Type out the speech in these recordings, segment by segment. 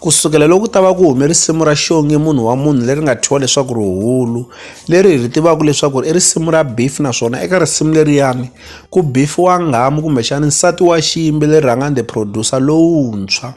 Ku sukela loko ku ta va ku hume risimu ra Xongi munhu wa munhu leri nga thyiwa leswaku Rihulu, leri hi ri tivaka leswaku i risimu ra beef naswona eka risimu leriyani ku beef-iwa nghamu kumbexana nsati wa xiyimbeleri Rhangani the Producer lowuntshwa.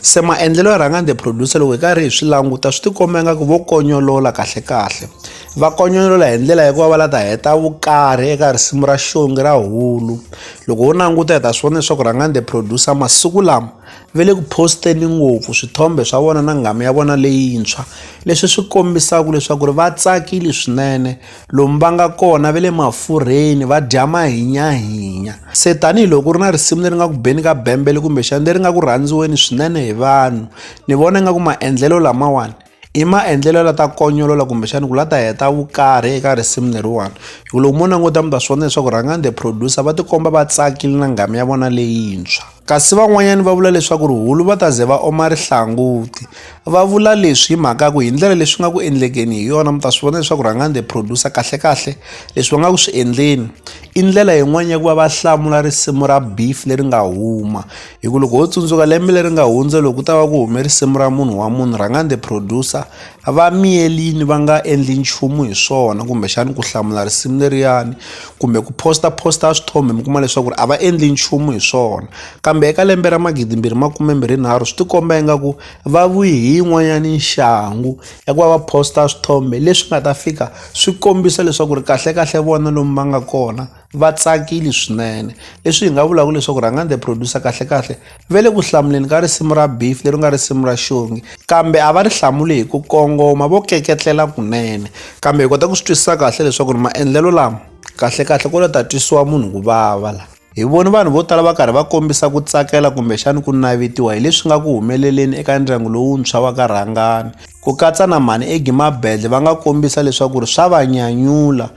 Se maendlelo ya Rhangani the Producer loko hi karhi hi swi languta swi tikomba ingaku vo konyolola kahlekahle. Va konyolola hi ndlela ya ku va va la ta heta vukarhi eka risimu ra Xongi ra Hulu. Loko ho languta hi ta swi vona leswaku Rhangani the Producer masiku lama, ve le ku post-eni ngopfu swithombe swa vona na nghamu ya vona leyintshwa leswi swi kombisaka leswaku ri va tsakile swinene lomu va nga kona ve le mafurheni va dya mahinyahinya se tanihiloko ri na risimu leri nga ku beni ka bembele kumbexani leri nga ku rhandziweni swinene hi vanhu ni vona nga ku maendlelo lamawani I maendlelo ya la ta konyolola kumbexana ku la ta heta vukarhi eka risimu leriwani hi ku loko mo languta mi ta swi vona leswaku rhangani the producer va tikomba va tsakile na nghamu ya vona leyintshwa kasi van'wanyana va vula leswaku rihulu va ta ze va oma rihlanguti va vula leswi hi mhaka ku hi ndlela leswi nga ku endlekeni hi yona mi ta swi vona leswaku rhangani the producer kahle kahle leswi va nga ku swi endleni i ndlela yin'wani ya ku va va hlamula risimu ra beef leri nga huma hi ku loko ho tsundzuka lembe leri nga hundza loko ku ta va ku hume risimu ra munhu wa munhu rhangani the producer va miyelini va nga endli nchumu hi swona kumbexani ku hlamula risimu leriyani kumbe ku posta posta swithombe mi kuma leswaku ri a va endli nchumu hi swona kambe eka lembe ra magidi mbirhi makume mbirhi nharhu swi tikomba ingaku va vuyi hi yin'wanyani nxangu ya ku va va posta swithombe leswi nga ta fika swi kombisa leswaku ri kahlekahle vona lomu va nga kona va tsakile swinene leswi hi nga vulaka leswaku rhangani the producer kahlekahle ve le ku hlamuleni ka risimu ra beef leri nga risimu ra xongi kambe a va ri hlamule hi ku kongoma vo keketlela kunene kambe hi kota ku swi twisisa kahle leswaku ri maendlelo lama kahlekahle ko lo ta twisiwa munhu ku vava la hi voni vanhu vo tala va karhi va kombisa ku tsakela kumbexani ku navetiwa hi leswi nga ku humeleleni eka ndyangu lowuntshwa wa ka rhangani ku katsa na mhani egi mabedle va nga kombisa leswaku ri swa va nyanyula